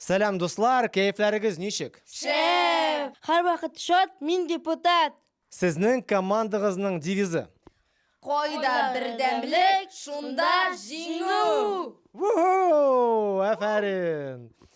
Сәлам, дуслар, кәефләрегез ничек? Шәп! Һәр вакыт шат, мин депутат. Сезнең командагызның девизы. Кайда бердәмлек, шунда җиңү! Ву-ху! Афәрин!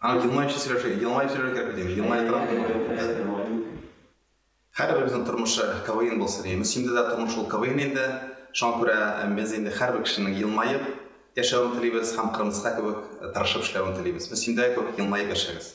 Ана елмаючы сөйләшә, елмаеп сөйләргә кирәк бит. Елмаеп торам. Һәрберебезнең тормышы КВН булсын. Имис инде дә тормыш ул КВН инде. Шуңа күрә без инде һәрбер кешенең елмаеп яшәвен телибез һәм Кырмыска кебек тырышып эшләвен телибез. Без инде күп елмаеп яшәгез.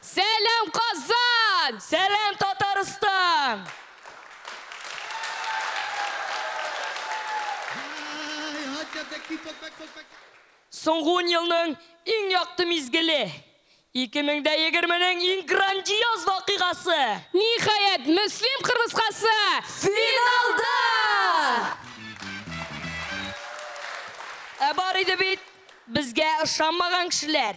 Сәлам Казан! Сәлам Татарстан! Соңгы ун елның иң якты мизгеле! 2020 нең иң грандиоз вакыйгасы! Ниһаять, Мөслим кырмыскасы финалда! Ә бар иде бит безгә ышанмаган кешеләр.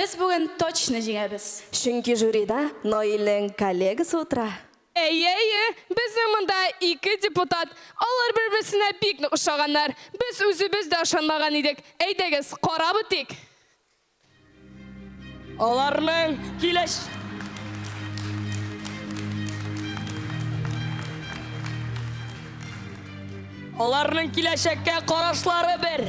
Без бүген точно җиңәбез. Чөнки жюрида Наилнең коллегасы утыра. Әйе, әйе, безнең монда ике депутат, алар бер-берсенә бик нык ошаганнар. Без үзебез дә ышанмаган идек. Әйдәгез, карап үтик. Аларның киләч. Аларның киләчәккә карашлары бер.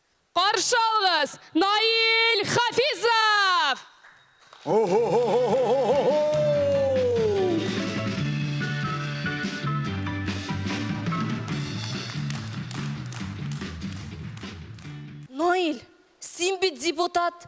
Каршы алыгыз, Наил Хафизов! О-хо-хо-хо-хо-хо-хо-хо! Наил, син бит депутат,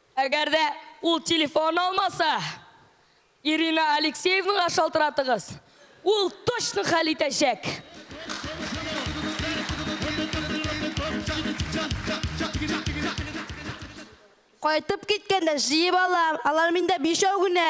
Әгәр дә ул телефон алмаса, Ирина Алексеевнага шалтыратыгыз, ул точно хәл итәчәк. Кайтып киткәндә җыеп алам, алар миндә бишәү генә.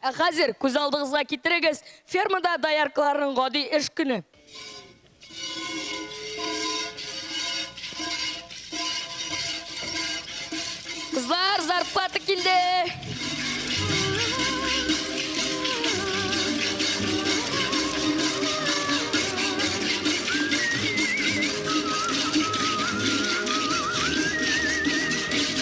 Ә хәзер күзалдыгызга китерегез фермада дояркаларның гади эш көне. Кызлар, зарплата килде!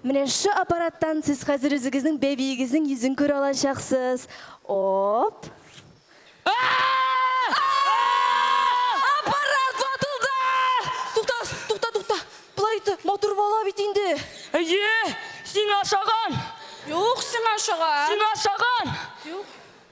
Менә шы аппараттан сез хәзер үзегезнең бәбиегезнең йөзен күрә алачаксыз. Оп! Аппарат ватылды! Тукта, тукта, тукта! Болай итте, матур бала бит инде! Әйе, сиңа ошаган! Юк, сиңа ошаган! Сиңа ошаган! Юк.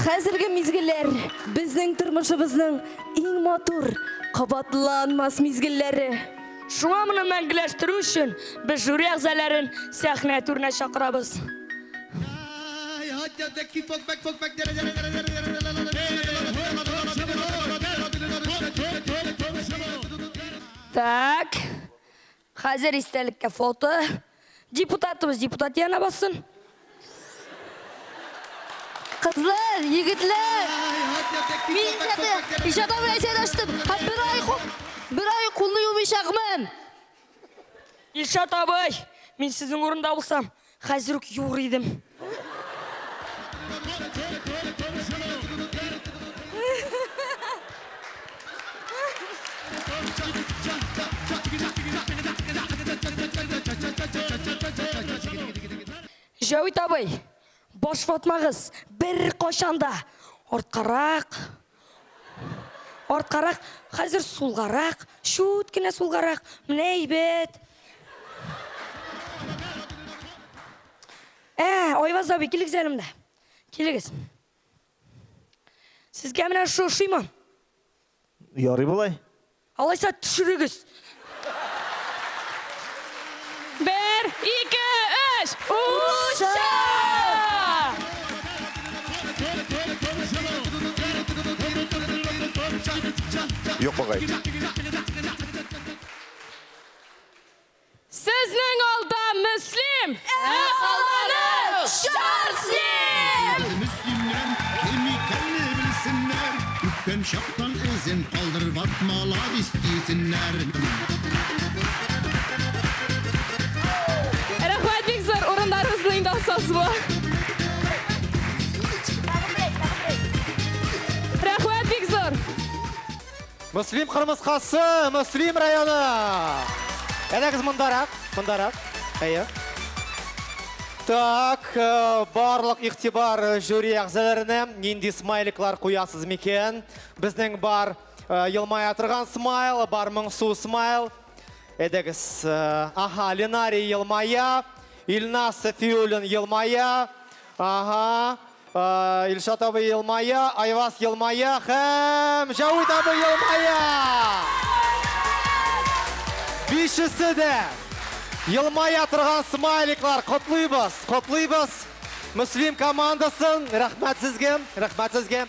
Хәзерге мизгелләр безнең тормышыбызның иң матур, кабатланмас мизгелләре. Шуңа моны мәңгеләштерү өчен без жюри әгъзаләрен сәхнә түренә чакырабыз. Так. Хәзер истәлеккә фото. Депутатыбыз депутат янә бассын. Кызлар, егетләр! Мин иҗаты, иҗатым белән җайлаштым һәм бер ай кул, бер ай кулны юмыйчакмын. Илшат абый, мин сезнең урында булсам, Хәзер үк юр идем. Җәвит абый, башватмагыз, бер кайчан да арткарак Арткарак, хәзер сулгарак, чүт кенә сулгарак, менә әйбәт. Ә, Айваз абый, килегез әле монда. Килегез. Сезгә менә шу ошыймы? Ярый болай. Алайса төшерегез! Бер, ике, өч! Утча! Юк, бабай. Сезнең алда Мөслим! Ә калганы Чар Слим! Әйдә, мөслимнәр, кем икәнне белсеннәр, Үткән чактан эзен калдырып ат маладис дисеннәр. Рәхмәт, бик зур! Урыннарыгызны инде алсагыз була. Мөслим кырмыскасы, Мөслим районы. Әйдәгез мондарак, мондарак. Әйе. Так, э, барлык игътибар э, жюри әгъзаларына. Нинди смайликлар куясыз микән? Безнең бар э, елмая торган смайл, бар моңсу смайл. Әйдәгез. Аха, Ленарий елмая, Илнас Сафиуллин елмая. Аха. Илшат абый елмая, Айвас елмая һәм Җәвит абый елмая! Бишесе дә елмая торган смайликлар. Котлыйбыз, котлыйбыз. Мөслим командасын. Рәхмәт сезгә, рәхмәт сезгә.